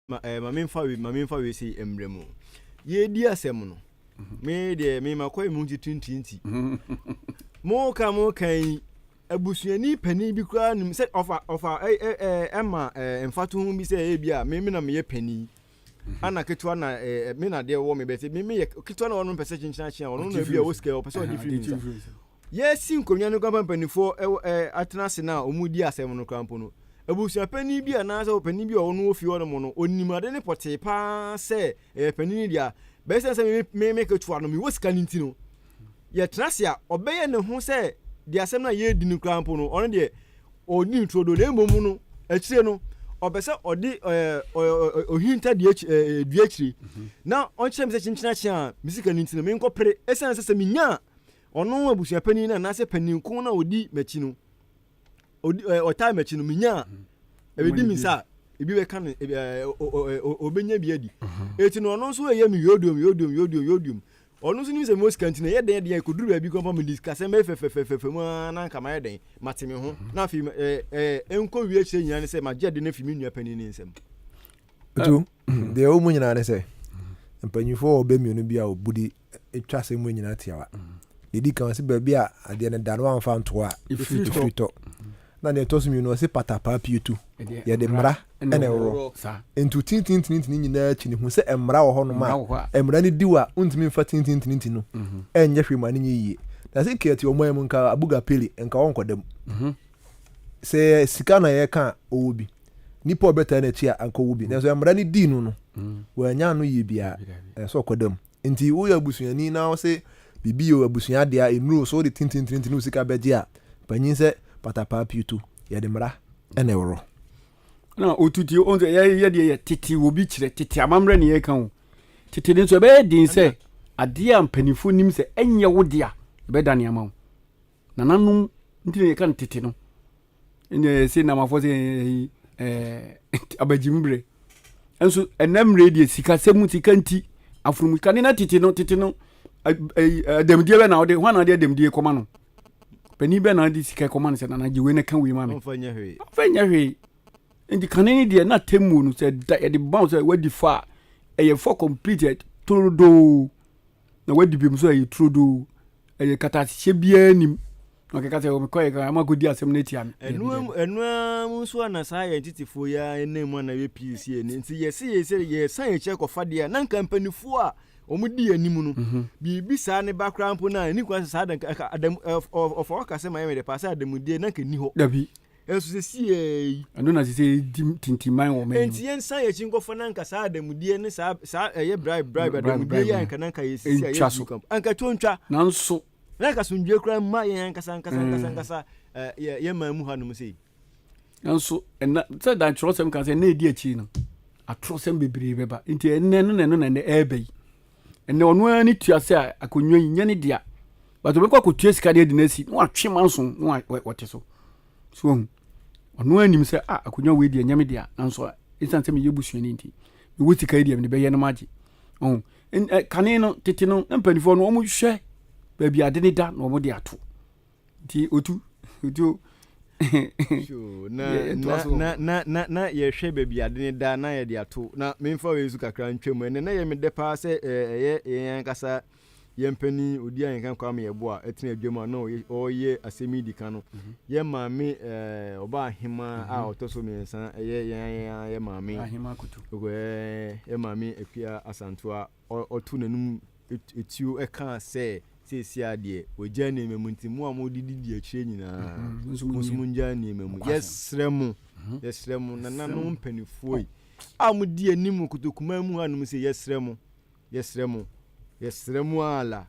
Ma ɛɛ ma mi nfa wei ma mi nfa wei sei mbrɛ mu. Yɛredi asɛm no, mhm. me deɛ me ma kɔɛ mu nti tintinti. Mo ka mo ka yi abusuani panin bi koraa nim sɛ ɔfa ɔfa ɛɛ ɛɛ ɛɛ ɛma ɛɛ mfatoho bi sɛ ebi a me me na meyɛ panin. Mhm. ana ketewa na ɛɛ me na deɛ wɔ me bɛsɛ me me yɛ ketewa na ɔno mpɛ sɛ kyenkyen akyea ɔno na ebi a ɔwɔ sika ɔpɛ sɛ ɔgye firi mi nsa. Yɛresi nkonnwa no koraa mpo a mpanimfoɔ wɔ ɛ atena ase no a wɔredi asɛm no koraa mpo no, abusuapanin bi anaasɛ ɔpanin bi a ɔwɔ no wɔ fie hɔnom no, ɔnim ade no pɔtee pa ara sɛ ɛyɛ panin no dea. Bɛyɛ sɛ sɛ me, me, me ketewa no, mewɔ sika no nti no, yɛtena ase a, ɔbɛyɛ ne ho sɛ deɛ asɛm no a yɛredi no koraa mpo no, ɔno deɛ ɔnni no turodoo, na mmom no, akyire no, ɔpɛ sɛ ɔde ɛ, ɔ, ɔ, ɔ, ɔhinta dua akyi, ɛ, dua akyire, na ɔnkyerɛ me sɛ kyenkyena kye a me sika no nti no, menkɔpere, ɛsiane sɛ sɛ menya a, Ɔno abusuapanin no anaasɛ panin ko no a ɔdi m'akyi no, ɔtaa m'akyi no, menya a, ɛbɛdi me nsa a, ebi bɛka no, ɔbɛnya bi adi. Mhm. Eti no ɔno nso ɛyɛ me yodium, yodium, yodium, yodium. Ɔno nso nim sɛ mewɔ sika nti na ɛyɛ dɛn deɛ ɛkɔduru baabi kɔ mpa mede sikasɛm bɛyɛ fɛfɛfɛfɛfɛ mu a na anka mayɛ dɛn mate me ho mhm. na afei ɛnkɔ wie akyerɛ nyinaa ne sɛ magyɛ de no afi me nua panin ne nsɛm. Deɛ ɛwɔ mu nyinaa ne sɛ mpanyinfoɔ wɔ bɛ mmienu bi a wɔbu di twa asɛm mu nyinaa tiawa. Deɛ di kan ɔsi baabi a adeɛ no da no amfa ntoɔ a ɛfiri tɔ. Na deɛ ɛtɔ so mmienu ɔsi patapaa pie tu yɛde mmara na ɛwɔ. Nti tintintinintini nyinaa akyi ne hu sɛ mmara wɔ hɔnom a mmara no di wɔ a wontumi mfa tintintinintini no mhm. ɛnyɛ hwee ma no nyɛ yie. Na sɛ nka ɛte ɔman mu nka abuga pili nka wɔnkɔda mu. Mhm. Sɛ sika na yɛka ɔwɔ bi. nipa a ɔbɛtaa n'akyi a anka ɔwɔ bi nanso mmara no dii no no wɔanya ano yie biara ɛyɛ sɛ ɔkɔda mu nti woyɛ abusuani na wo se biribi yɛ abusua adeɛ a nnuro so wode tintintinti ne wo sika bɛgye a panyin sɛ patapaa pioto yɛde mmara ɛna ɛworo na otuti o sɛ yɛyɛ deɛ yɛ tete wɔ bi kyerɛ tete amammerɛ ne yɛka o tete ne nso ɛbɛyɛ den sɛ adeɛ a mpanimfoɔ nim sɛ ɛnyɛ wo de a ɛbɛda nneɛma ho Nananom nti na yɛka no tete no. Ɛnna yɛsɛ namafoɔ sɛ ɛɛ abagyim berɛ. Nso ɛnna mmerɛ deɛ sikasɛm mu sika nti afunumu sika ne na tete no tete no adamdie bɛ na ɔde hɔn na ɔde adamdie kɔma no panin bɛ na ɔde sika kɔma no sɛ nana gye wei na ka wei ma me. ɔnfa nyɛ hwee. ɔnfa nyɛ hwee nti kane ne deɛ na tɛmuo no sɛ da yɛde bɔn sɛ wadi fa ɛyɛ fɔ completed torodoo. na wadi bem nso a ɛyɛ turodoo. Ɛyɛ katahyɛ biara nim. Na ɔkeka sɛ, mekɔɛ kra ama kɔdi asɛm no atia me. Ɛno ara mu nso a na saa yɛn tetefoɔ yi ara nam mu a na yɛ pii si ani. Nti yɛse yɛ sɛ yɛsan yɛn akyi kɔfa deɛ a na nka mpanimfoɔ a wɔdi yɛn anim no, mhm. biribi saa ne ba koraa mpo no a ɛni kwan sɛ saa ɔfa ɔka sɛ ma yɛ mede paa sɛ ademudeɛ na nka nni hɔ. Dabi. ɛnso sɛsiee yi ɛno na sɛ ɛdi tintiman wɔ mɛ nti yɛnsan yɛ akyi nkɔfa no anka saa adamudeɛ ne saa saa ɛyɛ bribe bribe adamudeɛ yɛ anka nanka yɛ sisi a yɛ sika anka to ntwa nanso na anka somdue koraa mma yɛn ankasa ankasa ankasa ankasa yɛ yɛ man mu hanom sɛ nanso ɛna sɛ dan kyerɛsɛm ka sɛ ɛna ɛdi akyi no atorɔsɛm bebree bɛba nti ɛnɛ no na ɛno na ɛnɛ ɛɛbɛ yi ɛnna ɔno ara ne tua sɛ akonnwa yi nyɛ ne dea bàtò bɛkɔ akɔtua sika de adi n'asi na watwe manso na wɔte so so ohun ɔno ara nim sɛ a akonnwa wei deɛ nyɛ me dea nanso esiane sɛ meyɛ busuani nti mewɔ sika yi deɛ mede bɛyɛ no magye ɔho kane no tete no na mpanimfoɔ no wɔhwɛ baabi ade ne da na wɔde ato nti otu otu na yɛhwɛ baabi ade ne da na yɛde ato na memfa wei nso kakra ntwam ɛnɛ na yɛ me dɛ paa sɛ ɛyɛ yɛn ankasa yɛn mpanin odi a yɛn kan kwame yɛ bo a ɛtena adwam a na ɔyɛ asɛm yi di kan no mhm. yɛ maame ɛɛ ɔba ahema a mhm. ɔtɔ so mmiɛnsa ɛyɛ yɛn yɛn yɛ maame yɛ maame akua asantoa Ɔtoo n'anom tuo kaa sɛ, Seesei ara deɛ, wɔagyaa nneɛma mu, nti mo a mode didi akyire nyinaa, mo nso monnyaa nneɛma mu. Yɛsrɛ mo, yɛsrɛ mo, nananom mpanimfoɔ yi a modi anim wɔ kotokumaa mu hanom sei, yɛsrɛ mo, yɛsrɛ mo, yɛsrɛ mo ara la,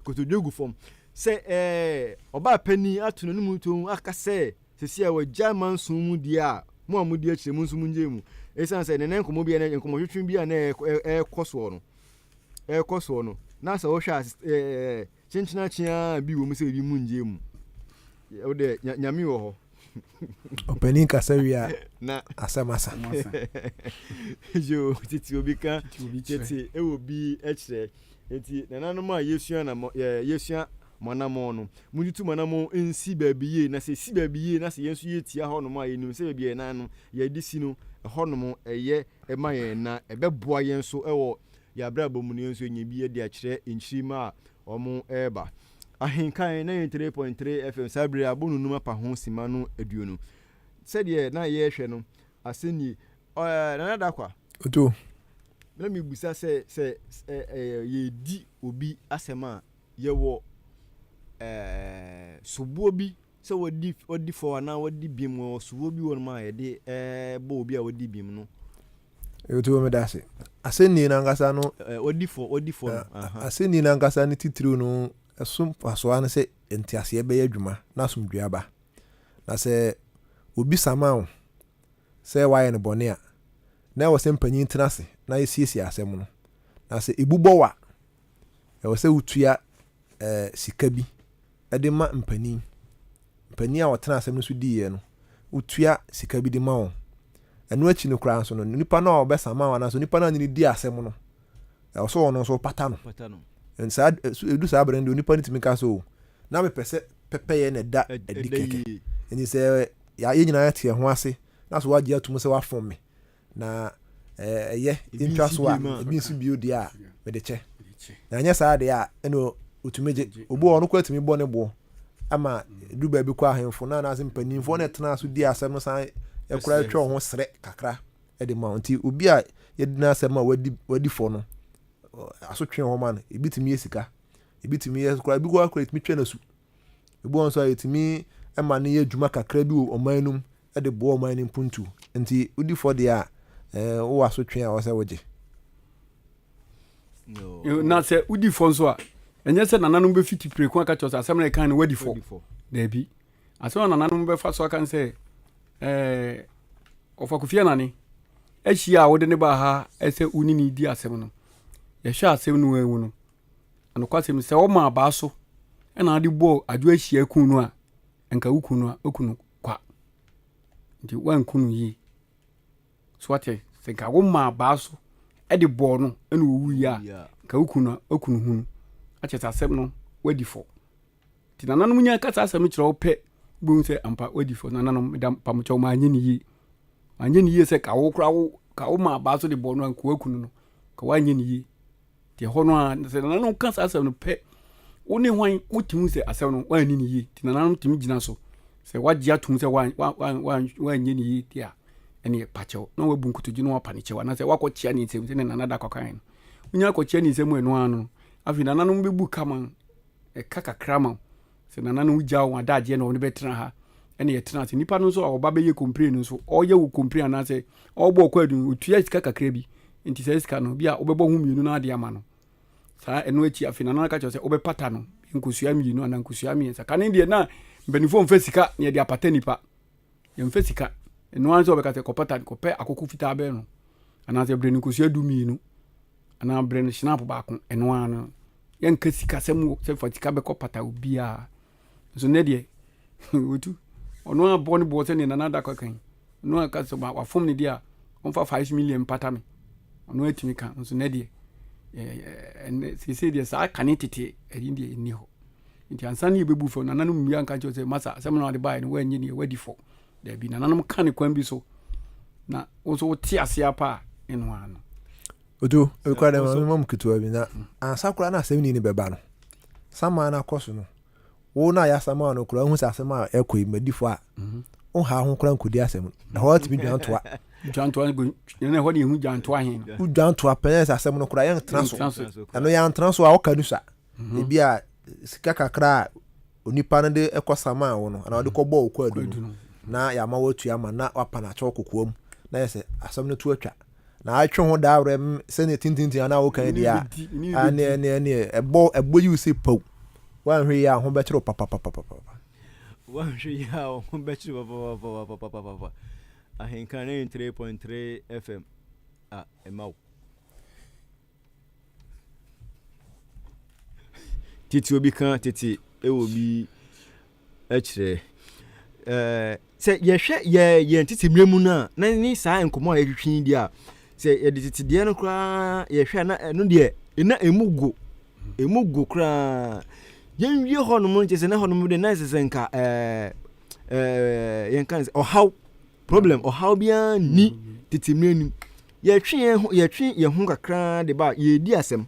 kotodwe gu fam, sɛ ɛɛ, ɔbaapanin ato n'anom tuo aka sɛ, Seesei wɔagyae manson mu di a mo a mudi akyire mo nso mungyae mu esiane sɛ nnɛnnɛ nkɔmmɔbea ne nkɔmmɔtwetwe bi a na ɛrekɔ soɔ no ɛrekɔ soɔ no na sɛ wohwɛ a kyenkyenakye ara bi wɔ mu sɛ ebi mungyae mu wo deɛ nyame wɔ hɔ ɔpanin kasa wie a na asɛm asa yo tete obi ka tete ɛwɔ bi kyerɛ nti nananom a yɛsua na yɛsua Mo anammɔn no, muntutu mo anammɔn nsi baabi yie, na sɛ ɛsi baabi yie na sɛ yɛn nso yɛtia hɔnom a, yɛnim sɛ baabi a yɛn nan no, yɛde si no, ɛhɔnom yɛ ma yɛn, na ɛbɛboa yɛn nso wɔ yɛn abrabɔ mu na yɛn nso yɛanya bi de akyerɛ nkyirimma a wɔreba. Ahenkan, 93.3 FM, Saa bere yi, abɔ no nnum apa ho simma no aduonu. Sɛdeɛ na yɛrehwɛ no, asɛm nie, ɛɛ, Nana Darkwa. Oto. Na mebisa sɛ, sɛ, sɛ, ɛɛ, yɛredi obi asɛm a. Yɛwɔ soboɔ bi sɛ wadi fɔ anaa wadi bem wɔ soboɔ bi wɔ nom a yɛde bɔ obi a wadi bem no. Ɛti wɔ meda ase. Asɛnnii no ankasa no. Wadi fɔ, wadi fɔ no. Asɛnnii no ankasa no titiriw no ɛso mfasoɔ ano sɛ nteaseɛ bɛyɛ adwuma na asomdwoeɛ aba. Na sɛ obi sama wo sɛ wayɛ no bɔne a, na ɛwɔ sɛ mpanyin tena ase na yɛsiesie asɛm no. Na sɛ ɛbu bɔ wo a, Ɛwɔ sɛ wotua eh, sika bi de ma mpanin. Mpanin a wɔtena asɛm no so diiɛ no, wotua sika bi de ma wɔn. Ɛno akyi no koraa nso no, nipa no a ɔbɛsa ma wɔn anaasɛ nipa no a ne di asɛm no, ɛwɔ sɛ ɔno nso pata no. Saa edu saa abere no deɛ nipa no tumi ka sɛ o, na mepɛ sɛ pɛpɛyɛ na ɛda adi kɛkɛ. Nti sɛ yɛn nyinaa te ɛho ase na so wagye atum sɛ wafom me na ɛyɛ ntwa so a, ebi nso bio deɛ a, mede kyɛ. Na ɛnyɛ saa deɛ a, ɛna ɔtumi gye. Obi wɔ hɔ, ɔno koraa tumi bɔ ne boɔ ma ɛdu baabi kɔ ahemfo no anaasɛ mpanimfoɔ na ɛtena so di asɛm no san ɛkora twɛ ho serɛ kakra de ma nti obi a yɛdi n'asɛm a wadi wadi fɔ no asotwe hɔ ma no ebi tumi yɛ sika ebi tumi yɛ kora ebi kora kora tumi twɛ n'asu ebi wɔn nso a yɛtumi ma no yɛ adwuma kakra bi wɔ ɔman no mu de boa ɔman no mpuntuw. Enti wodi fɔ deɛ a, ɛɛ, wowɔ asotwe a ɛwɔ sɛ wogye. Na sɛ wodi fɔ nso a, ɛnyɛ sɛ nananom bɛfiti preko aka kyerɛ sɛ asɛm no ɛkan no wadi fɔ. Daabi. Asɛm a nananom bɛfa so aka no sɛ, ɛɛ, ɔfa Kofi Anane ahyia a wode ne baa ha sɛ wo ne ne di asɛm no. Yɛhwɛ asɛm no mu no, anokwasɛm sɛ wɔma abaa so na wode bɔɔ adwo ahyia kun no a, anka woku no a, woku no kwa. Nti woanku no yie. So wate? Sɛ nka womaa baa so de bɔɔ no ɛna owuiɛ a, nka woku no a, woku no hunu. Akyɛ sɛ asɛm no wadi fɔ. Nti nananom nya ka saa asɛm no kyerɛ wo pɛ, wobɛhu sɛ ampa wadi fɔ. Nananom, meda mpamokyɛw manyɛ ne yie. Manyɛ ne yie sɛ ka wo koraa wo ka womaa baa so de bɔɔ no a, nka woaku no no, nka woanyɛ ne yie. Te hɔ no ara, sɛ nananom ka saa asɛm no pɛ, wo ne hwan wotumi hu sɛ asɛm no woanni ne yie. Te nananom tumi gyina so. Sɛ wagye atom sɛ woanyɛ ne yie te a, ɛneɛ pa kyɛw na wabu nkotodwe na wapa ne kyɛw anaasɛ wakɔkyea ne nsam sɛ ne nana da kɔkae no. Wonya akɔkyea ne nsam ɛno ara no, afei nananom bɛbu ka ma ɛka kakra ma wo. Sɛ nana no gya wɔn adagyeɛ na wɔn bɛtena ha ɛna yɛtena ase nipa no nso a ɔba bɛyɛ complain no nso ɔyɛ wo complain anaasɛ ɔbɔ ɔkɔ adu no otua sika kakra bi nti saa sika no bi a wobɛbɔ ho mmienu no ade ama no saa ɛno akyi afei nana no aka kyerɛ sɛ wobɛpata no nkosua mmienu anaa nkosua mmiɛnsa kane deɛ na mpanimfoɔ mfa sika na yɛde apata nipa Yɛmfa sika ɛno ara sɛ wɔbɛka sɛ kɔpɛ tade kɔpɛ akoko fitaa bɛyɛ no anaasɛ brɛ no nkosua du mmienu anaa brɛ no hyinap baako ɛno ara no yɛnka sikasɛm wɔ sɛ fa sika bɛkɔ pata obiara nso nnɛ deɛ wɔtu ɔno a bɔ ne boɔ sɛdeɛ nana da kɔ kan ɔno a ka sɛ wafom ne deɛ a ɔmfa 5 million mpata me ɔno atumi ka nso nnɛ deɛ seesei deɛ saa kane tete ɛyi deɛ ɛnni hɔ nti ansa na yɛbɛbu fɔ nananom mmia nka kyerɛ sɛ masa asɛm na wade baeɛ no woannye neɛ woadi fɔ daabi nananom ka ne kwan bi so na wo nso wote ase apa a ɛno ano otu ɛkora dɛ ma mu ketewa bi na mm. ansa koraa na asɛm ni ne bɛba no sama no akɔ so no wo na yɛasama no koraa wohu sɛ asɛm a ɛkɔ yi madi fɔ a mhm. woha ho koraa nkɔdi asɛm no ɛhɔ atumi dwantoa wodwantoa pɛn sɛ asɛm no koraa yɛntena so ɛno yɛantena so a woka no sa Ebia sika kakra a onipa no de kɔsamaa wo no, anaa ɔde kɔbɔɔ wo kwaadu no, na yɛama woatua ma na wapa no akyɛw kokoam, na yɛ sɛ asɛm no to atwa. Na atwe ho daa werɛ sɛnea tintintin a na wokan deɛ a, ɛneɛ ɛneɛ ɛneɛ ɛbɔ ɛbɔ yiw sɛ paw. Woanhwɛ yie a ho bɛkyere wo papapapapapa. Woanhwɛ yie a ho bɛkyere wo papapapapapapa. Ahenka 93.3 FM a ɛma wo. Tete obi ka tete wɔ bi kyerɛ. Ɛɛ sɛ yɛhwɛ yɛ yɛn tete mmerɛ mu no a na ne saa nkɔmmɔ a yɛtwetwe yi deɛ a sɛ yɛde tete deɛ no koraa yɛhwɛ a na ɛno deɛ na ɛmu go ɛmu go koraa yɛnwie hɔnom nkyɛ sɛ na hɔnom deɛ na ɛsɛ sɛ nka ɛɛ ɛɛ yɛnka no sɛ ɔhaw Problem, ɔhaw biara nni tete mmere no mu. Yɛtwe yɛn ho, yɛtwe yɛn ho kakra de ba a, yɛredi asɛm.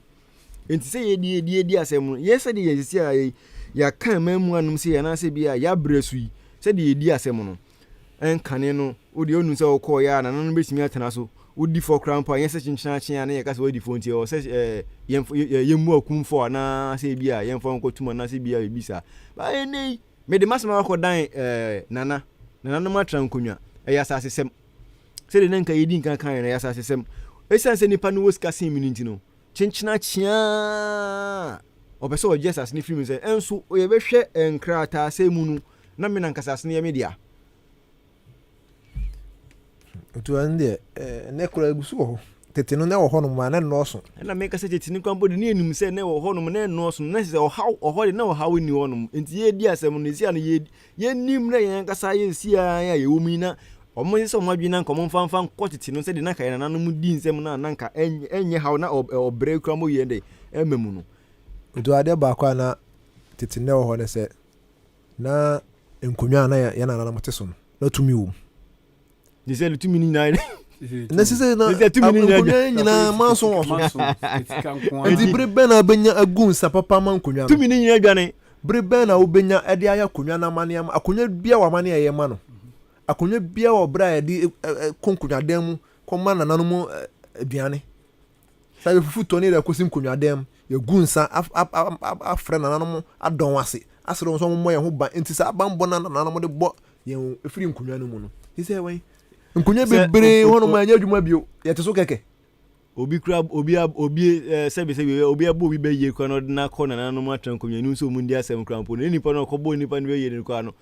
Enti sɛ yɛdi yɛdi yɛdi asɛm no, yɛ sɛdeɛ yɛn sisi a yɛ yɛaka mmaa mu anom sɛ anaasɛ bi a yɛabrɛ so yi, sɛdeɛ yɛdi asɛm no, ɛnkane no, wo deɛ ɔnu sɛ wokɔɔ yɛ a nana no bɛtumi atena so, wodi fɔ koraa mpo a, nyɛ sɛ kyenkyena akyen a na yɛka sɛ wadi fɔ nti ɛwɔ sɛ ɛɛ yɛn yɛn mu akum fɔ anaasɛ bi a yɛmfa nkɔtum anaasɛ bi a biribi saa. Baa ɛnɛ yi, Mede m'asɛm aba kɔ dan eh, Nana, nananom atra nkonwa, ɛyɛ asasesɛm. Sɛdeɛ na nka yɛdi nkan kaeɛ no, ɛyɛ asasesɛm. Ɛsiane sɛ nnipa no wɔ sika sen me no nti no, kyenkyena kyeaa ɔpɛ sɛ ɔgye asase no firi me nsam. Nso yɛbɛhwɛ nkrataasɛm mu no, na me no ankasa asase no yɛ me dea. Otu ɛno deɛ ɛnɛ koraa egu so wɔ hɔ. Tete no na ɛwɔ hɔnom a na nnɔɔso. Ɛna meka sɛ tete no kwan bɔ de ne anim sɛ na ɛwɔ hɔnom na nnɔɔso na sɛ ɔhaw ɔhɔ de na ɔhaw nni hɔnom. Enti yɛredi asɛm no esia no yɛnim na yɛn ankasa yɛ nsia a yɛwɔ mu yi na wɔn yɛ sɛ wɔn adwene na nka wɔn mfa mfa nkɔ tete no sɛdeɛ na nka yɛn nananom di nsɛm no a na nka ɛnyɛ haw na ɔbrɛ kura mo yɛn dɛ ɛma mu no. Otu adeɛ baako a na tete na ɛwɔ hɔ ne sɛ Na nkonnwa a na yɛn nananom te so no, na tumi wom. Ne sɛ ne tumi no nyinaa yɛ. Na sise na nkonnwa nyinaa manso wɔ so. Nti bere bɛn na wobɛnya agu nsa papa ma nkonnwa no? Tumi no nyinaa dwane. Bere bɛn na wobɛnya ɛde ayɛ akonnwa no amane ama akonnwa bia wɔ amane a ɛyɛ ma no? Akonnwa bia wɔ bere a yɛde kɔ nkonnwadan mu kɔma nananom aduane? Saa yɛfufutɔ ne yɛrekosi nkonwadan mu, yɛagu nsa afrɛ nananom adɔn ase, asrɛ wɔn sɛ wɔmmɔ yɛn ho ban nti saa banbɔ no a nananom de bɔ yɛn firi nkonwa no mu no. Te sɛ wɛn? Nkonwa bebree hɔ nom a ɛnyɛ adwuma bio, yɛte so kɛkɛ. Obi kura obi obi sɛbi sɛbi obi abɔ obi bɛyie kora na ɔde no akɔ nananom atra nkonwa no nso ɔmu ndi asɛm kora mpo no ne nipa no ɔkɔbɔɔ nipa no bɛyie no kora no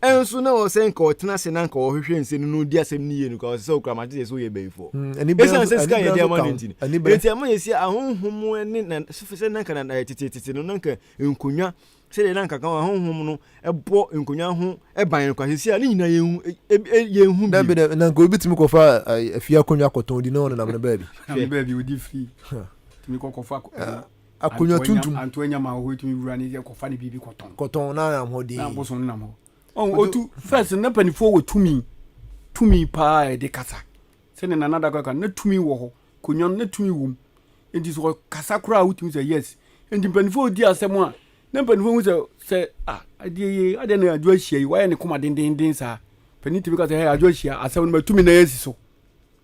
Nso na ɔwɔ sɛ anka ɔtena ase na anka ɔhwehwɛ nsɛm no na odi asɛm no yie no koraa, ɔsɛ sɛ okura makyɛse sɛ ɔyɛ bayifoɔ. Esiane sɛ sika a yɛde ama no nti no, enti ɛma yɛsi ahonhom ne na sɛ na anka na teteete no na anka nkonnwa sɛdeɛ na anka kan ahonhom no bɔ nkonnwa ho ban no koraa seesei a ne nyinaa yɛnhu ebi yɛnhu bio. Dabi dabi na anka obi tumi kɔfa afie akonnwa kɔtɔn di na ɔnenam no baabi. Hwɛ. Baabi odi firi tumi kɔ kɔfa akonnwa. Akonnwa tuntum. Antoa nya ma ɔhɔ tumi wura ne kɔfa ne biribi kɔtɔn. Kɔtɔn na nam hɔ den. Na boso no nam hɔ. Ɔn otu first na panifoɔ wɔ tumi tumi paa ɛde kasa. Sɛdeɛ nana da kɔka na tumi wɔ hɔ konnwa no na tumi wɔ mu. Nti sɛ ɔkasa koraa wotumi sɛ yes. Nti mpanifoɔ di asɛm a na mpanifoɔ hu sɛ sɛ ah adeɛ yi adeɛ na adwo ahyia yi wayɛ ne koma dendenden saa. Panin tumi ka sɛ hey adwo ahyia asɛm no matumi na yɛasi so.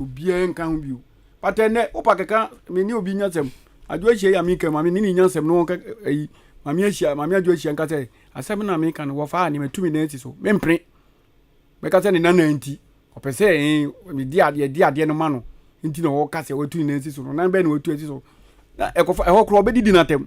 Obiara nka ho bio. But ɛnɛ, wopa kɛka, me ne obi nya sɛm. Adwo ahyia yi a meka mu, me ne nya sɛm no wɔnka ayi. Mame ahyia, mame adwo ahyia nka sɛ, asɛm na meka no, wɔfaa ne matu me nan asi so. Mempene. Bɛka sɛ ne nana nti, ɔpɛ sɛ eh, mede adeɛ, de adeɛ no ma no. Nti na ɔka sɛ watu ne nan asi so no. Nan bɛn na watu asi so. Na ɛkɔfa, ɛhɔ koraa ɔbɛdidi no atɛm.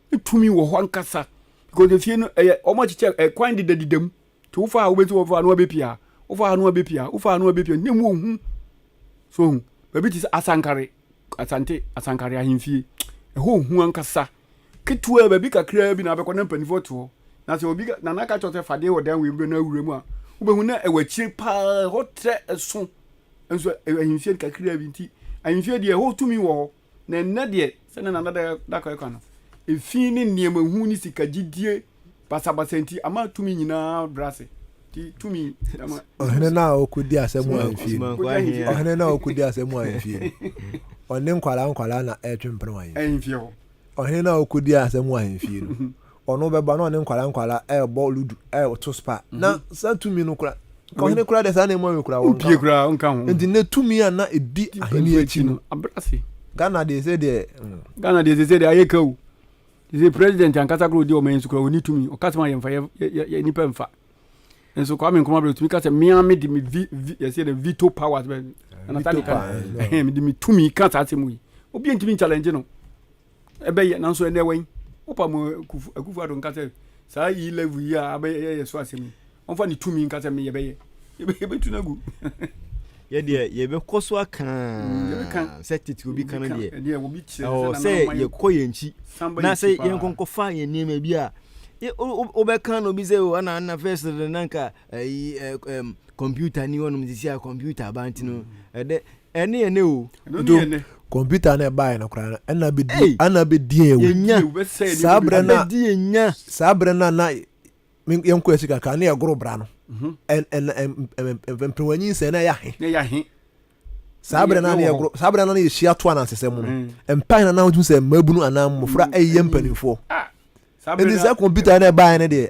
tumi wɔ hɔ ankasa because efie no ɛyɛ wɔn akyekyɛ ɛkwan deda deda mu nti wofa a wobɛti wɔfa ano abɛpia wofa ano abɛpia wofa ano abɛpia ne mu ohun so ohun baabi te sɛ asankare asante asankare ahemfie ɛhɔ ohun ankasa ketewa baabi kakraa bi na abɛkɔ na mpanimfoɔ te hɔ na sɛ obi na n'aka kyerɛ sɛ fadeɛ wɔ dan wei mu na awura mu a wobɛhu na ɛwɔ akyire paa ɛhɔ trɛ ɛso nso ahemfie kakraa bi nti ahemfie deɛ ɛhɔ tumi wɔ hɔ Na ɛnnɛ deɛ, sɛdeɛ Nana Dakoa reka no, efi ne nneɛma hu ne sika gyidie basabasa nti ama tumi nyinaa brɛ ase. Nti tumi ɛma. Ɔhene no a ɔkɔdi asɛm wɔ ahemfie no, ɔhene no a ɔkɔdi asɛm wɔ ahemfie no, ɔne nkwadaa nkwadaa na ɛretwe mpena wɔ ahemfie hɔ. Ɔhene no a ɔkɔdi asɛm wɔ ahemfie no, Ɔno bɛba na ɔne nkwadaa nkwadaa ɛrebɔ ludu ɛreto spa na mhm. saa tumi no kora ɔhene kora deɛ saa na emu awi kora wɔn ka kora wɔn ka ho nti ne tumi a na edi ahene akyi no abrase ghana deɛ sɛ deɛ mm. ghana deɛ sɛ sɛ deɛ ayɛ ka o sɛ president ankasa kora odi ɔman yi so kora ɔni tumi ɔka sɛ ma yɛmfa yɛ nipa mfa nso kwame nkɔmɔ abirɛ tumi ka sɛ mmea mi di mi vi vi yɛsɛ dɛ veto powers bɛ ɛnata ne ka mi di mi tumi ka saa asɛm yi obi ntumi nkyalɛngye no. Ɛbɛyɛ, nanso ɛnnɛ wɛn? Wopa mo Akufo Akufo Addo nka sɛ saa E level yi a abɛyɛ yɛ so asɛm yi, ɔmfa ne tumi nka sɛ me yɛbɛyɛ. Yɛbɛ, yɛbɛtu no agu. Yɛ deɛ, yɛbɛkɔ so aka Mm, yɛbɛka. sɛ tete obi ka no Yɛbɛka. deɛ. Ɛdeɛ obi kyerɛ Ɛwɔ sɛ sɛ nana ɔma yɛ yɛkɔ kɔ. yɛn akyi San ba na yɛn sɛ akyi paa. yɛnkɔ nkɔfa yɛn nneɛma bi a yɛ- wo- wo- wobɛka na obi sɛ o ana ana first no na nka ayi ɛ- ɛm, computer ni hɔnom sisi a computer aba nti no ɛdɛ Ɛne ɛne o. Ɛno ne ɛne. Computer na ɛbaeɛ no koraa no ɛna bɛdi ɛna bɛdi yɛn awu. Yɛnya. Saa berɛ no a. Abɛdi yɛn nya. Saa berɛ no a na yɛn kɔ akyi kakra na yɛgoro bra no. Ɛn mperewa nyinsɛn na ɛyɛ ahe. Na ɛyɛ ahe. Saa berɛ no a na yɛgoro saa berɛ no a na yɛhyia to anansesɛm mu no. Ɛmpa hena na wotumi sɛ mmabunu anaa mmɔfra ɛyɛ mpanimfoɔ. Ɛnti saa computer na ɛbaeɛ no deɛ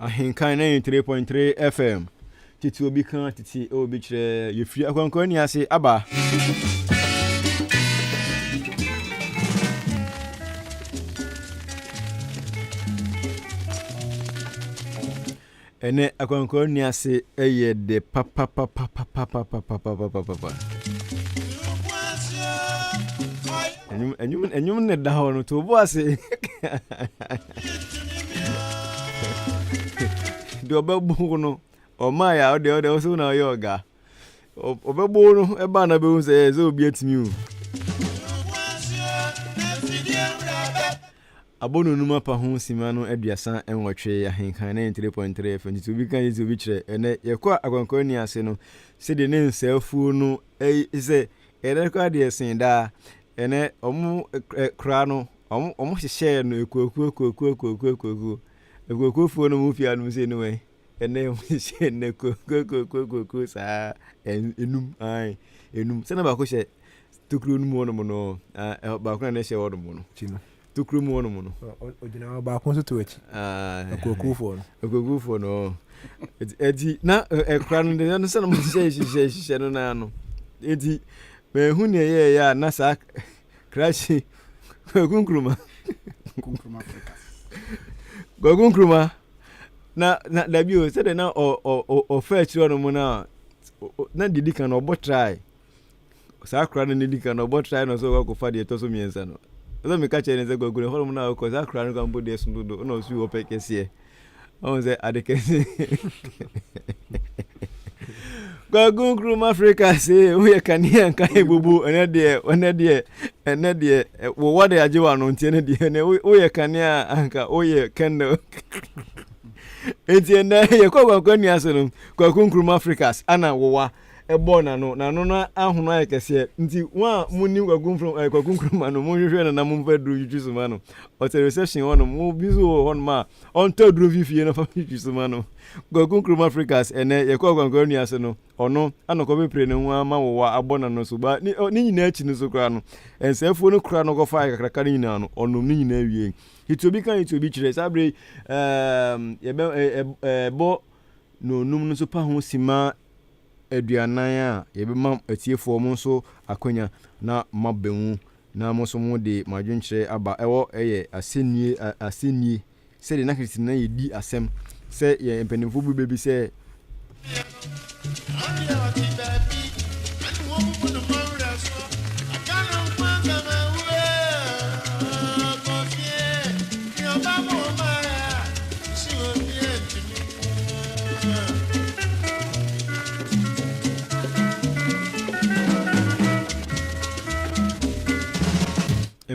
Ahenkan ninety three point three FM tete obi ka tete obi kyerɛ yɛfiri akwankwa ni ase aba. ɛnɛ akwankwa ni ase ɛyɛ de papapapapapapapapapapa. Enyim enyim enyim ne da hɔ no to bo ase. Deɛ ɔbɛbo wo no ɔmaa yɛ a ɔdeɛ ɔdeɛ ɔsɛ wo na ɔyɛ ɔga. Ɔbɛbo wo no ɛbaa na bɛhu sɛ ɛyɛ sɛ obi atumi o. Abɔno num apa ho sima no aduasa nwɔtwe ahenkan 93.3 FM nti obi ka yi sɛ obi kyerɛ ɛnɛ yɛkɔ akwankwan ni ase no sɛdeɛ ne nsɛafuo no ɛyi sɛ Ɛnɛ koraa deɛ ɛsen daa. Ɛnɛ wɔn kora no wɔn hyehyɛɛ no akuokuo akuokuo akuokuo akuokuo akuokuofoɔ no mu pia nom sei no wɛn ɛnɛ wɔn hyehyɛɛ no akuokuo akuokuo akuokuo saa enum ae enum sɛnɛ baako hyɛ tokuro no mu hɔ nom no baako na ɛhyɛ hɔ nom no. Tokuro mu hɔnom no. Ɔgyina hɔ, baako nso to akyi. Akuakuofoɔ no. Akuakuofoɔ no. Eti na ɛkora no deɛ no sɛ na mo hyehyɛ hyehyɛ hyehyɛ no naa no. Eti mɛhu nea ɛyɛ ɛyɛ a na saa krakye kwaku nkuruma. Nkuruma Afrika. Kwaku nkuruma na na dabi o sɛdeɛ na ɔ ɔ ɔfɛ akyire hɔnom na na deɛ di kan no ɔbɔ trae Saa akora no na edi kan no, ɔbɔ trae na ɔsɛ sɛ ɔkɔfa deɛ ɛtɔ so mmiɛnsa no. Ɛsɛ sɛ meka kyerɛ no sɛ, Kwaku, ɛhɔnom no a wokɔ, saa akora no koraa mpo deɛ ɛso dodo, ɛna ɔso yi hɔ pɛ kɛseɛ. Ɔhu sɛ ade kɛse. Kwaku Nkrumah Africa se, woyɛ kanea nka ebubu, ɛnɛ deɛ, ɛnɛ deɛ, ɛnɛ deɛ, wɔwɔ de agye wɔ ano, nti ɛnɛ deɛ, ɛnɛ woyɛ kanea anka woyɛ candle. Nti ɛnɛ yɛkɔ kwankwa nni ase no, Kwaku Nkrumah Africa, ana wɔwa. bɔɔ n'ano, n'ano no ahono ayɛ kɛseɛ, nti wɔn a monim Kwaku Mfrom ɛɛ Kwaku Nkrumah no monhwehwɛ no na momfa aduro ntwitwi so ma no, ɔte reception hɔ nom, obi nso wɔ hɔ nom a ɔntɔ aduro mfi fie na ɔmfa ntwitwi so ma no, Kwaku Nkrumah Fricas ɛnɛ yɛkɔ Akwankora Nua ase no ɔno ana ɔkɔpepere ne ho ama wo wa abɔ n'ano so but ne ne nyinaa akyi no nso koraa no ɛnsɛefoɔ no koraa na ɔkɔfaeɛ kakraka no nyinaa no ɔnom ne nyinaa wiei nti obi ka nti obi kyerɛ saa bere yi ɛɛm yɛbɛ ɛɛ ɛɛ ɛbɔ na onum no nso pa ho sima aduanan a yɛbɛma atiefoɔ mo nso akwanya na moabɛhu na mo nso mode mo adwenkyerɛ aba ɛwɔ ɛyɛ asɛnnie asɛnnie sɛdeɛ na tete no na yɛdi asɛm sɛ yɛn mpanimfoɔ bu bɛ bi sɛ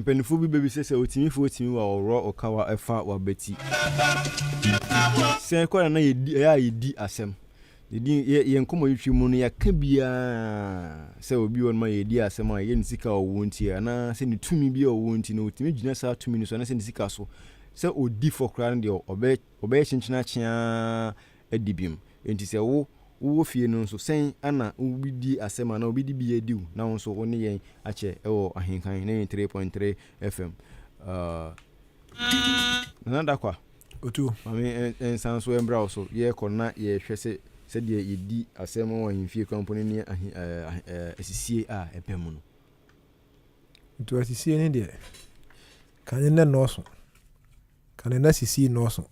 Mpanyinfoɔ bi bɛbisa sɛ otumi fo otumi wa ɔworɔ ɔkawa ɛfa wabati. Sɛn kɔ na na yɛdi ɛyɛ a yɛdi asɛm. Yɛdi yɛ yɛn nkɔmɔtwitwi mu no yɛka biara sɛ obi wɔ no ma yɛdi asɛm a yɛ ne sika a ɔwɔ nti anaa sɛ ne tumi bi a ɔwɔ nti na otumi gyina saa tumi no so anaa sɛ ne sika so sɛ odi fɔ koraa no deɛ ɔbɛ Wɔbɛyɛ kyenkyen akye ara adi bem. Enti sɛ wo, wowɔ fie no nso, sɛn ara na wobedi asɛm anaa obi de bi adi wo na wo nso wo ne yɛn akyɛ wɔ Ahenkan 93.3 FM. Uh, Nana Dakwa, Otu. ma me eh, nsan so mbra wo so. Yɛrekɔ na yɛrehwɛ sɛ sɛdeɛ yɛdi asɛm wɔ ahemfie kora mpo no ne ahe, eh, ahe, eh, asisie a ɛbɛ mu no. Nti asisie ne deɛ, kane na nnɔɔso. Ka no na sisi nnɔɔso,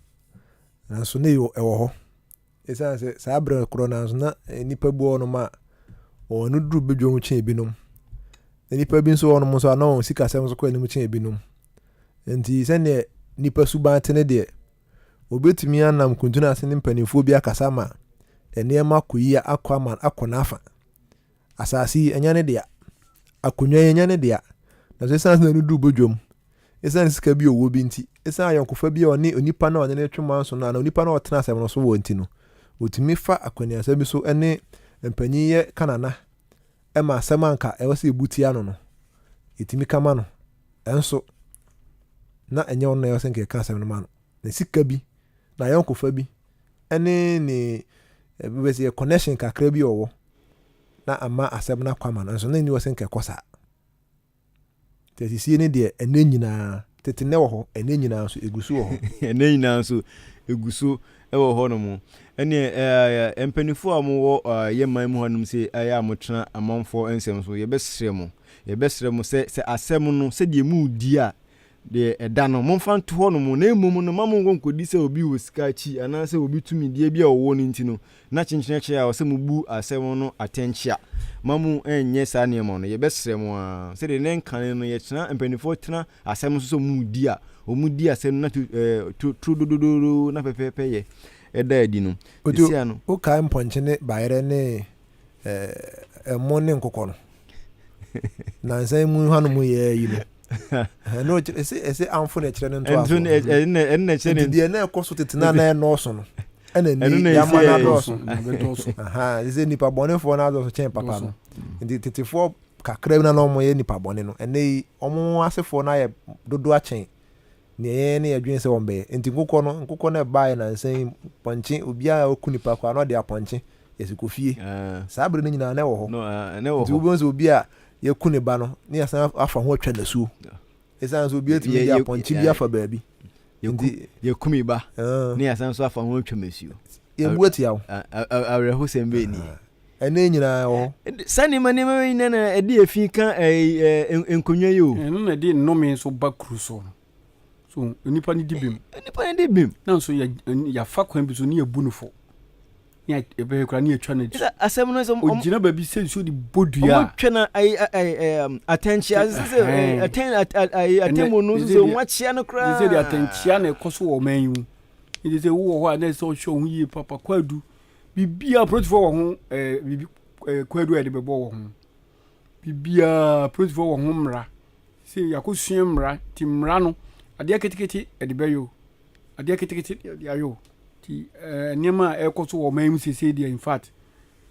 nanso na ɛwɔ hɔ. Esiane sɛ saa bere korɔ nanso na nnipa bi wɔ hɔnom a wɔn ano duru badwam kyɛn ebinom, na nnipa bi nso wɔ hɔnom nso a na wɔn sikasɛm nso kɔ anim kyɛn ebinom. Enti sɛdeɛ nnipa suban te ne deɛ, wɔbɛtumi anam kuntunu ase ne mpanimfoɔ bi akasa ma nneɛma akɔ yie akɔ ama akɔ n'afa. Asase yi, ɛnyɛ ne dea. Akonnwa yi, ɛnyɛ ne dea. Nanso esiane sɛ na no duu badwam, esiane sika bi a ɔwɔ bi nti, esiane ayɔnkofa bi a ɔne onipa no a ɔne no retwe manso no anaa onipa no a ɔtena asɛm no so wɔ nti no, otumi fa akwannuasa bi so ne mpanyin yɛ ka nana ma asɛm a anka ɛwɔ sɛ ebu tia no no, etumi ka ma no. Nanso, na ɛnyɛ ɔno na ɛwɔ sɛ nka ɛka asɛm no ma no. ne sika bi, n'ayɔnkofa bi, ne ne bɛbɛ sɛ connection kakra bi ɔwɔ na ama asɛm no akwama no nso na nni wɔsɛ nkɛkɔ saa nti asisie ne deɛ ɛnɛ nyinaa tete nɛ wɔ hɔ ɛnɛ nyinaa nso ɛgu so wɔ hɔ ɛnɛ nyinaa nso ɛgu so wɔ hɔ no mu ɛneɛ mpanifoɔ a mowɔ yɛ man mu hanom sɛ ɛyɛ a motena amanfoɔ nsɛm so yɛbɛsrɛ mo yɛbɛsrɛ mo sɛ sɛ asɛm no sɛdeɛ mudi a Deɛ ɛda no, momfa nto hɔnom, na mmom no, mma monkɔ nkɔdi sɛ obi wɔ sika akyi, anaasɛ obi tumidie bi a ɔwɔ no nti no, na kyenkyen akyɛ a ɔsɛ mobu asɛm no atɛnkyea. Mma mo nnyɛ saa nneɛma no. Yɛbɛsrɛ mo ara, sɛdeɛ nnɛ nkane no yɛtena, mpanimfoɔ tena asɛm so sɛ wɔredi a, wɔdi asɛm no na tu, ɛɛ, tu, turo dododoodo na pɛpɛɛpɛ yɛ ɛda adi no. Otu, Sesia no. wokae mpɔnkye ne bayerɛ ne, ɛɛ, ɛmo ne nkokɔ no? Nnansa yi mu hwanom yɛɛ yei no? ɛno ɛsɛ ɛsɛ anfo na ɛkyerɛ no ntoaso ɛno na ɛkyerɛ ne ɛno na ɛkyerɛ ne deɛ na ɛkɔ so tete na na ɛnɔɔso no ɛna ni yama na adɔɔso ɛsɛ nipa bɔnefoɔ na adɔɔso kyɛn papa no nti tetefoɔ kakra bi na na wɔn yɛ nipa bɔne no ɛnɛ yi wɔn asefoɔ na ayɛ dodo akyɛn nea yɛn ne yɛdwen sɛ wɔbɛyɛ. Enti nkokɔ no, nkokɔ no a ɛbaeɛ nnansa yi, pɔnkye, obiara a waku nipa koraa na ɔde apɔnkye, yɛsi kɔ fie. Saa bere no nyinaa na ɛwɔ hɔ. Nti wobɛhu sɛ obi a yɛaku ne ba no, na yɛasan afa ho atwa nasuo. Ɛsiane sɛ obi atumi de apɔnkye bi afa baabi. Nti. Yɛku me ba, na yɛasan nso afa ho atwa m'asuo. Yɛbu atia wo. Awerɛhosɛm bɛn nie! Ɛnɛ nyinaa ɛwɔ hɔ. Saa nneɛma nneɛma wei nyinaa na ɛde efi ka nkonnwa yi o. Ɛno na ɛde nnome nso ba kuru so. So nnipa no di bem. Nnipa no di bem. Na nso yɛafa kwan bi so ne yɛbu no fo. Ne ɛbɛyɛ koraa ne yɛtwa no akyi. Asɛm no sɛ ɔgyina baabi sɛ nsuo de bɔ dua. Wɔtwa no atɛnkyea sɛ atɛmmu no sɛ wɔakyea no koraa. Sɛ de atɛnkyea na ɛkɔ so wɔ ɔman yi mu. Ɛde sɛ wowɔ hɔ a na ɛsɛ ɔhwɛ wo ho yie papa kwaadu. Biribiara polisifoɔ wɔ ho ɛɛ biribi ɛɛ kwadu a yɛde bɛbɔ wɔ ho biribiara polisifoɔ wɔ ho mmara sɛ yɛakɔsua mmara ti mmara no adeɛ ketekete yɛde bɛyɛ o adeɛ ketekete yɛde ayɛ o ti ɛɛ nneɛma a ɛrekɔ so wɔ ɔman mu seesei deɛ in fact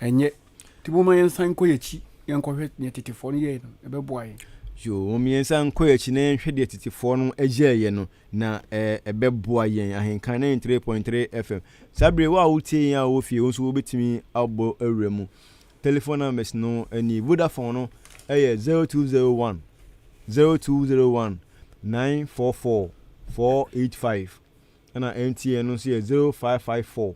ɛnyɛ. Nti momma yɛnsan nkɔ yɛn akyi na yɛnkɔhwɛ nea tetefoɔ no yɛeɛ no, ɛbɛboa yɛn. Yoo, mom yɛnsan nkɔ yɛn akyi na yɛnhwɛ deɛ tetefoɔ no yɛeɛ no, na ɛbɛboa yɛn. Ahenkan 93.3 FM. Saa berɛ yi, wo a wotie yɛn a wowɔ fie, wo nso wobɛtumi abɔ awura mu. Telephone numbers no nie, Vodafone no yɛ 0201 0201 944 485, ɛna MTN no nso yɛ 0554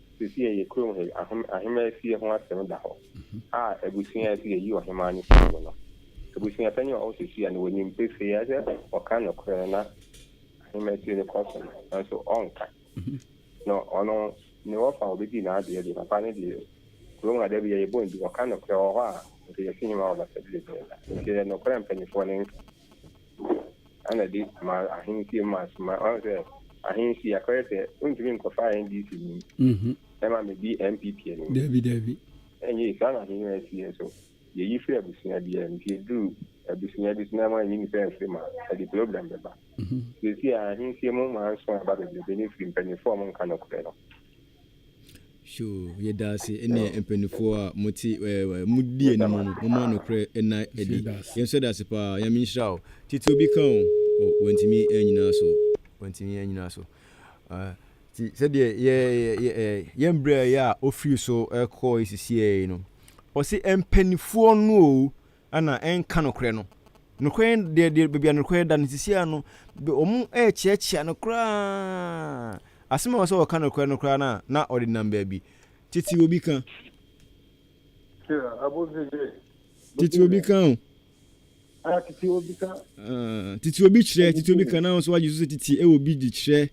Seesei yɛ kurom ha yi, ahemmaa fie ho asɛm da hɔ a abusua a ɛsɛ sɛ yɛyi ɔhemmaa no firi mu no, abusua panyin a ɔwɔ hɔ seesei no, ɔnim pefee ara sɛ ɔka nokorɛ no na ahemmaa fie no kɔ so no, nanso ɔnka. Na ɔno, ne wɔfa a ɔbɛdi n'adeɛ deɛ, papa no deɛ, kurom ha da biara yɛbɔ no din, ɔka nokorɛ, ɔwɔ hɔ a, nka yɛasi him a ɔbɛsɛ berɛ biara. Nti ɛyɛ nokorɛ a mpanimfoɔ no nka. ɛna ɛde ma ahensie mu asoma ɔn sɛ ahensie akɔyɛ sɛ wontumi nkɔfa ndc ni mhm. ɛma medi npp anim dabi dabi ɛnyɛ saa na ahenni asie nso yɛyi firi abusua biara nti ɛduru abusua bi so na ɛma ɛyi nipa mfiri ma ɛde problem bɛba mhm. sɛsi a ahensie mu ma nso aba bebrebe ne firi mpanyinfoɔ a ɔmo nka nokorɛ no So yɛda ase? Ɛnna mpanimfoɔ a mote ɛɛ modi anim no, momma nokorɛ nna adi. Yɛn nso yɛda ase paa. Nyame nhyira wo. Tete obi ka o, oh, wantumi annyina so. Wantumi annyina so. Uh, ti sɛdeɛ yɛ yɛ yɛ ɛɛ yɛn brɛ yɛ a ofiri so ɛkɔɔ esisiɛ yi no, ɔsi mpanimfoɔ no o, Ana ɛnka nokorɛ no? Nokorɛ no deɛ deɛ baabi a nokorɛ da no seesei ara no wɔn rekyeakyea no koraa. Asɛm a ɛwɔ sɛ wɔka nokorɛ no koraa no a na wɔde nam baabi. Tete obi ka. Tete obi ka o. Tete obi ka. Tete obi kyerɛ, tete obi ka na wo nso woagye so sɛ tete ɛwɔ bi de kyerɛ.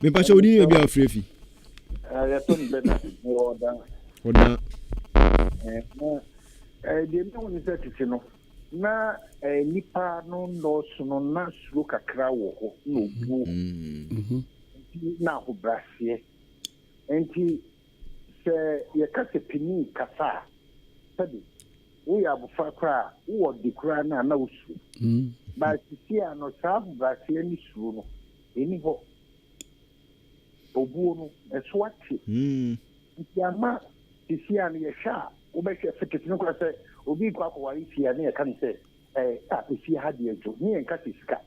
mepakyɛ wode ne baabi a wofrɛ fi ɔda deɛ mehu ne sɛ tete no na nipa no nnɔɔso no na suro kakra wɔ hɔ na obuo nti na ahobraseɛ nti Sɛ yɛka sɛ panyin kasa a, sɛbe woyɛ abofra koraa a, wowɔ ɔde koraa no a na wusuro. But seesei no, saa ahobrɛaseɛ ne suro no, ɛnni hɔ. Obuo no, ɛso ate. Nti ama seesei no, yɛhwɛ a, wobɛhwɛ fekese no koraa sɛ obi rekɔ akɔware fie a, na yɛka no sɛ, eh, ah, efie ha deɛ adwo. Ne yɛnka sɛ sika.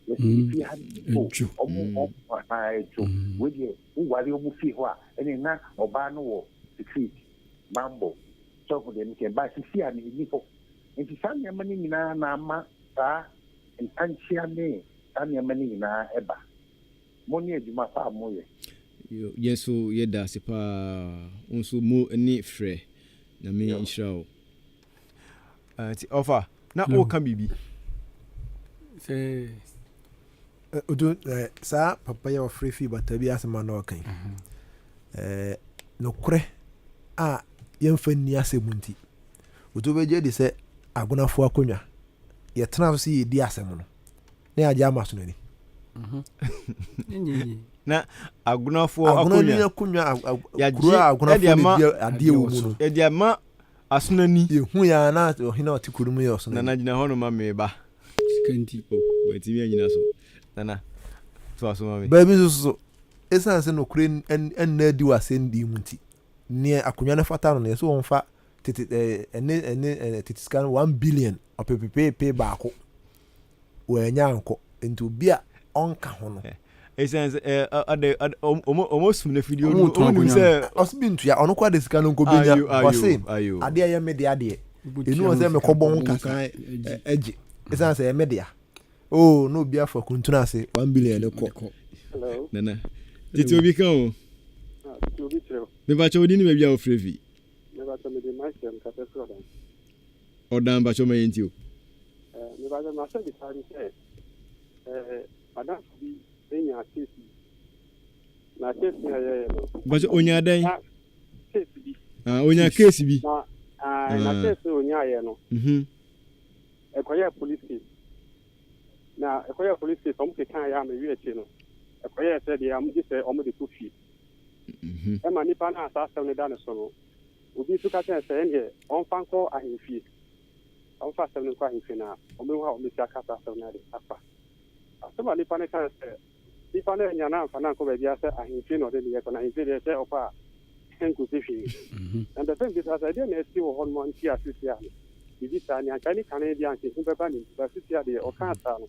Yɛse efie ha deɛ, oh, wɔn, wɔn, ahaa, adwo. Wei deɛ. Woware wɔ mo fie hɔ a, ɛneɛ na ɔbaa no wɔ secret, banbɔ, sɛ woahu deɛ meka yi, but seesei a no ɛnni hɔ. Nti saa nneɛma no nyinaa na ama saa ntankyea ne saa nneɛma no nyinaa ɛba. Mo ne adwuma pa a moyɛ. Yo, yɛn nso yɛda ase paa. Wo nso mo ne frɛ. Nyame nhyira wo. Eh, nti ɔfa na No. woka biribi Sɛ Eh, odu eh, saa papa yi a ɔfrɛ fii bata bi asɛm a na ɔka yi eh, nokorɛ a yɛmfa nni asɛm nti otu bɛgye adi sɛ agonafoɔ akonnwa yɛtena so sɛ yɛdi asɛm no na yɛagye ama so no ni ɛnyɛ yie. na agonafoɔ agono ni akonnwa akonnwa ag- ag- Yɛagye kuro a ɛde agonafoɔ ama- no di adeɛ wɔ mu no ɛde ama Asono ni. Yɛhui ara na ɔhene a ɔte kuro no mu yɛ Ɔsono ni. Nana gyina hɔ nom ma me ba. Sika nti o, wantumi annyina so. Nana, toa so ma me. Baabi nso so, ɛsiane sɛ nokorɛ nna adi wɔ asɛnnii mu nti, nea akonnwa no fata no no, yɛse wɔmfa tete, ɛɛ, ɛne, ɛne, ɛɛ, tete sika no one billion, ɔpepepeepee baako. Wannya ankɔ, nti obi a ɔnka ho no. Esiane sɛ ɛɛ ɔde ɔde wɔn sum no afidie no wɔn nim sɛ. Ɔsi bi ntua ɔno kɔ ade sika no nko benya ɔsi adeɛ yɛ me de adeɛ enu ɔsɛ me kɔ bɔn kasa ɛgye esiane sɛ ɛmɛ dea oo na obi afa kuntun ase one billion ne kɔ. Nana titi obi kan o. Titi obi kyerɛ o. Mepa kyɛ odi ni baabi a ofre fi. Mepa kyɛ me de ma kyerɛ me kasa fura dan. ɔdan mpakyɛw ma yɛn nti o. Eh, me pakyɛw m'asɛ bisa ne sɛ, eh, madamfo bi enya case bi, na case no a yɛyɛ no. Mpakyɛw onya dɛn? Na case bi. Ah, onya case bi. Na, ah, na ah. case no onya yɛ no. Mhm. Ɛkɔyɛ police case. Na ɛkɔyɛ police case, ɔmo keka yɛ a mewi akyi no, ɛkɔyɛ sɛ deɛ ɔmo gye sɛ ɔmo de kɔ fie. Mhm. Ɛma nipa no a saa asɛm no da ne so no, Obi nso ka kyerɛɛ no sɛ ɛnneɛ ɔmfa nkɔ ahemfie, ɔmfa asɛm no nkɔ ahemfie na wɔbɛhu a wɔbɛsi aka saa asɛm no ade afa. Asɛm a nipa no kae sɛ nipa no annya no amfa no ankɔ baabiara sɛ ahemfie na ɔde ne yɛ kɔ, na ahemfie deɛ sɛ ɔkɔ a ɛnkɔsi hwee. Na mepɛ sɛ mebisa sɛ ɛdeɛn na asi wɔ hɔnom a nti a seesei a no biribi saa ni? Anka ɛne kane deɛ anka ehu bɛba ne nti, but seesei a deɛ ɔkaa saa no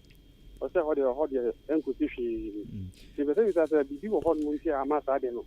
ɔsɛ hɔ deɛ hɔ deɛ ɛnkɔsi hwee. Nti mepɛ sɛ mebisa sɛ biribi wɔ hɔnom nti a ama saa deɛ no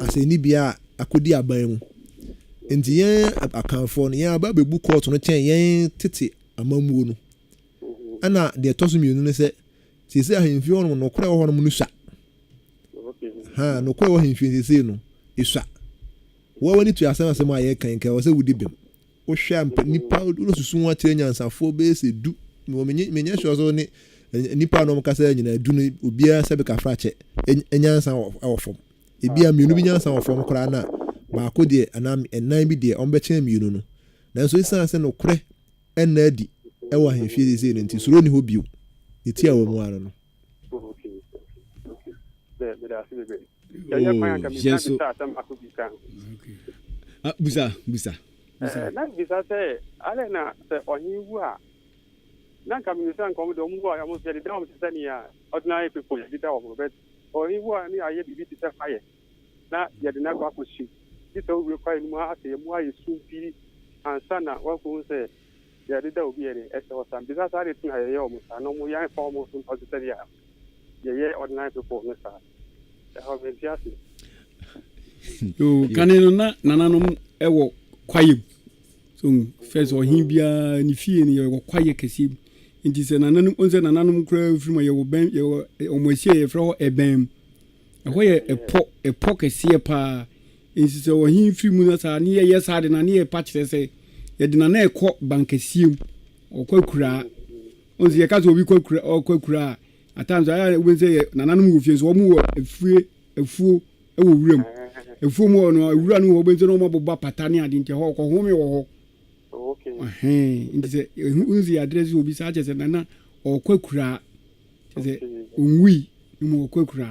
asɛnnibea a akodi aban mu. Enti yɛn Akanfoɔ no, yɛn aba bɛbu kɔɔto no kyɛn yɛn tete amammuo no. Ɛna deɛ ɛtɔ so mmienu ne sɛ, seesei ahemfie hɔ nom, nokorɛ wɔ hɔ nom no sua. Ha, nokorɛ wɔ ahemfie seesei no, ɛsua. Woa w'ani to asɛm asɛm a yɛka yi nka ɛwɔ sɛ wodi bem. Wohwɛ a mpa nnipa wosusu ho akyerɛ nyansafoɔ bɛyɛ sɛ du. Mewɔ menye menyɛ sure sɛ wone nnipa a na wɔn kasa nyinaa du no obiara sɛbe kafrakyɛ ɛ- nyansa wɔ wɔ fam. Ebi a mmienu bi nyansa wɔ fam koraa na baako deɛ anaa m- nnan bi deɛ wɔbɛkyɛn mmienu no. Nanso esiane sɛ nokorɛ ɛnna adi ɛwɔ ahemfie seesei no nti suro nni hɔ bio. Ne tiawa mu ara no. busa busa na bisa sɛ alɛ na sɛ ɔhen wu a na nka menim sɛ nka ɔmo de ɔmo wu a ɔmo sɛ deda ɔmo te sɛ nea ordinary people yɛ deda ɔmo bɛ ɔhen wu a ne ayɛ biribi te sɛ fayɛ na yɛde no akɔ akɔhye bi sɛ wowie kwae no mu a sɛ yɛmu ayɛ sum pii ansa na woakohu sɛ Yɛde da obi adi, ɛsɛ ɔsam. Bisa saa ade tena yɛyɛ wɔn saa na wɔn yɛ anfa wɔn so nto ase sɛdeɛ yɛyɛ ordinary people no saa. Ɛhɔ mente ase. Yoo kane no na nananom wɔ kwaeɛ mu so hu fɛ sɛ ɔhen biara ne fie no yɛwɔ kwaeɛ kɛseɛ mu nti sɛ nananom ɔn sɛ nananom koraa firi mu a yɛwɔ bɛn yɛwɔ ɔmo ahyia yɛfrɛ hɔ ɛbɛn mu Ɛhɔ yɛ ɛpɔ, ɛpɔ kɛseɛ pa ara. Enti sɛ ɔhene firi mu na saa a, na yɛyɛ saa de no a, na yɛpa kyerɛ sɛ, yɛde no a, na ɛkɔ bankɛseɛ mu, ɔkɔ akuraa. Wohu sɛ yɛka sɛ obi kɔ akura, ɔkɔ akuraa a, at times ayɛ a wobɛhu sɛ yɛ nananom wɔ fie nso, wɔwɔ afie, afuo wɔ wuram. Afuo mu hɔ no, awura no wɔ hɔ, wobɛhu sɛ na wɔabobɔ apata ne ade nti, ɛhɔ ɔkɔhome wɔ hɔ. Okay. Ɛhɛn, nti sɛ ɛhu wohu sɛ yɛadrɛse obi saa a, kyerɛ sɛ nana ɔkɔ akuraa. kyerɛ sɛ onwui na mmom ɔkɔakura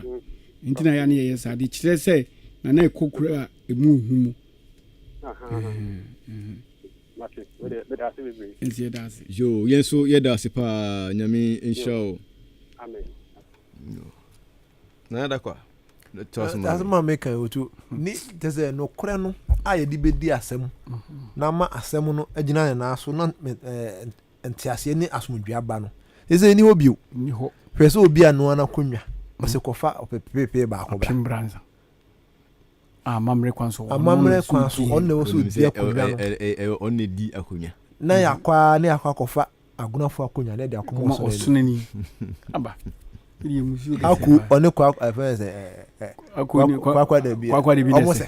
nti na yɛ a na yɛyɛ saa de kyerɛ sɛ na na ɛkɔ kura a ɛmu ɔhu mu nti yɛda ase yo yɛn so yɛda ase paa nyame nhyira o na yɛda kwa asɛm a meka otu ne kyɛ sɛ nokorɛ no a yɛde bɛdi asɛm na ama asɛm no agyina ne naa so na Nteaseɛ ne asomdwoeɛ aba no, seesei ɛnni hɔ bio. Hwɛ sɛ obi anoa n'akonnwa, ɔse, Kɔfa ɔpepepepe baako bra. Amammerɛ kwan so, ɔno na ɔsɛ odi akonnwa no. Ɔno na ɔdi akonnwa. Na yɛakɔ ara na yɛakɔ akɔfa agonafoɔ akonnwa na yɛde akɔma ɔsonani. Aku, ɔne Kwakwa, ɛfrɛ no sɛ, Kwakwa Dabi, wɔn sɛ.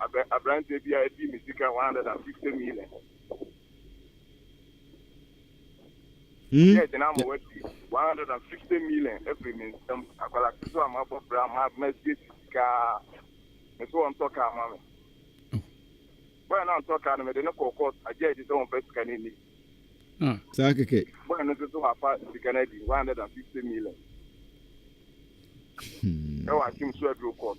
Abɛ abranteɛ bi a ɛdi me sika 150 million. Hmm? Yɛ gyina ama wati 150 million ɛfiri me nsam. Akwara ketewa a mabɔ bra ma masie si sika me so ɔntɔ kaa ma me. Bɔyɛ no antɔ kaa no mede ne kɔɔ kɔɔt agye agye sɛ wɔmfa sika no ani. Ah, saa kɛkɛ. Bɔyɛ no nso so wafa sika no adi 150 million. Hmm. Ɛwɔ akyem so aduro kɔɔt.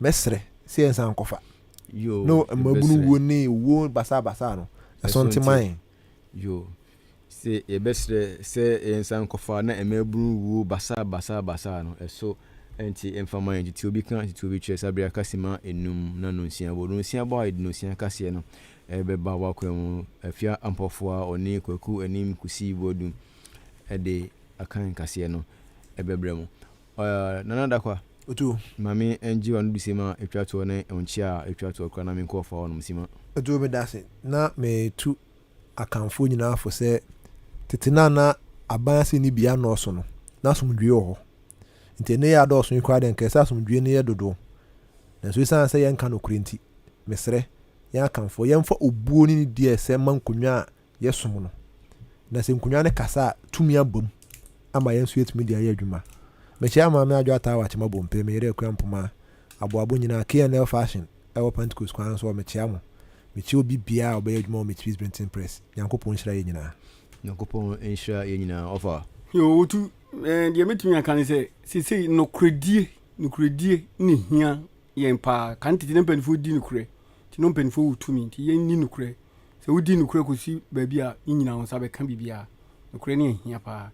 Mɛsrɛ sɛ yɛnsan nkɔfa. Yo, no mmabunu wuo ne owuo basaa basaa no ɛso nte ma yɛn. Yo, sɛ yɛbɛsrɛ sɛ yɛnsan nkɔfa na mmabunu wuo basaa basaa basaa no ɛso nte mfa ma yɛn. Tete obi ka tete obi kyerɛ sɛ abere kasi ma enum na nonsia bɔ. Nonsia bɔ a yɛde nonsia kaseɛ no ɛbɛba w'akwan mu. Afia Ampɔfoa ɔne Kwaku Anim Kusi Boadu ɛde akan kaseɛ no ɛbɛbrɛ mo. Ɔyɛɛ Nana Dakwah. Otu. Ma me ngye w'ano du sima a etwa toɔ ne ɔnkye a etwa toɔ koraa na me nkɔ ɔfa hɔnom sima. Otu meda ase na metu Akanfoɔ nyinaa fo sɛ tete no a na aban ase nni bea nnɔɔso no, na asomdwoeɛ wɔ hɔ. Nti ɛnnɛ yɛ adɔɔso yi koraa deɛ nka ɛsɛ sɛ asomdwoeɛ no yɛ dodoɔ. Nanso ɛsiane sɛ yɛnka nokorɛ nti, mesrɛ, yɛn Akanfoɔ, yɛmfa obuo ne nidie a ɛsɛ mma nkonnwa a yɛsom no. Na sɛ nkonnwa no kasa a, tumi aba mu ama yɛn nso yɛatumi de ayɛ adwuma. Mekyia Maame Adwo Ataa wɔ Akyema Bompey, me yere Akua Mpoma, Aboabo nyinaa, KNL Fashion wɔ Pentecost kwan no so hɔ, mekyia mo. Mekyia obi biara a ɔbɛyɛ adwuma wɔ Makepeace Brinton Press. Nyankopɔn nhyira yɛn nyinaa. Nyankopɔn nhyira yɛn nyinaa, ɔfa. Owutu, eh, deɛ mɛtumi aka ne sɛ, sesei nokorɛdie, nokorɛdie ne hia yɛn paa. Kan tete na mpanimfoɔ di nokorɛ, nti na mpanimfoɔ wɔ tumi, nti yɛnni nokorɛ. Sɛ wodi nokorɛ kɔsi baabi a, ne nyinaa wo nsa bɛka biribiara. Nokorɛ no ahia paa.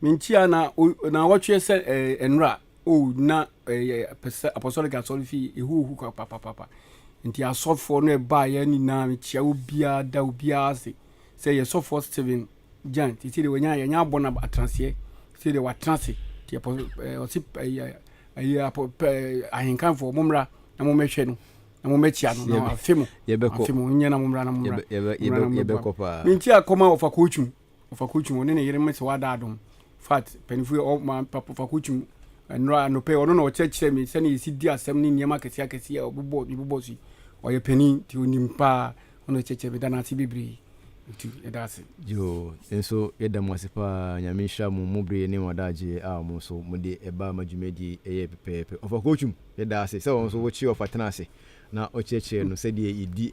Menkyia na naawɔtweɛ sɛ ɛɛ nnora oh na ɛɛ pɛsɛ apɔsɔlik asɔre fie ehuhu kwa papapapa. Nti asɔfoɔ no ɛbaeɛ nyinaa mekyia obiara da obiara ase. Sɛ yɛ sɔfoɔ Steven Gyan te sɛ deɛ wanya yanya abɔ no atenaseɛ sɛ deɛ watena ase te ɛpɔ ɛɛ ɔse ɛɛ ɛɛ apɔ pɛɛ ahenkanfoɔ mommra na mommɛhwɛ no. na mo mɛkyia no na afe mu afe mu nyɛ na mo mmra na mo mmra yɛbɛkɔ paa ne nti akɔma ɔfa kɔtwum ɔfa kɔtwum ɔne ne yere mo sɛ wada adom fat mpanimfoɔ ɔma ɔfa kɔtwum nnora anɔpɛ ɔno na ɔkyerɛkyerɛ me sɛne yɛsi di asɛm ne nneɛma akɛseɛ akɛseɛ a ɔbobɔ mebobɔ so yi ɔyɛ panin nti ɔnim paa ɔno ɛkyɛkyɛ meda no ase bebree nti yɛda ase yo nso yɛda mo ase paa nyame nhyira mo mo bere ne wɔdaagyeɛ a mo nso mode ɛbaa ma dwumadie ɛyɛ pɛpɛɛpɛ ɔfa kɔtwum Yɛda ase sɛ wɔn nso wokyee ɔfa tenaa ase na ɔkyerɛkyerɛɛ no sɛdeɛ yɛdi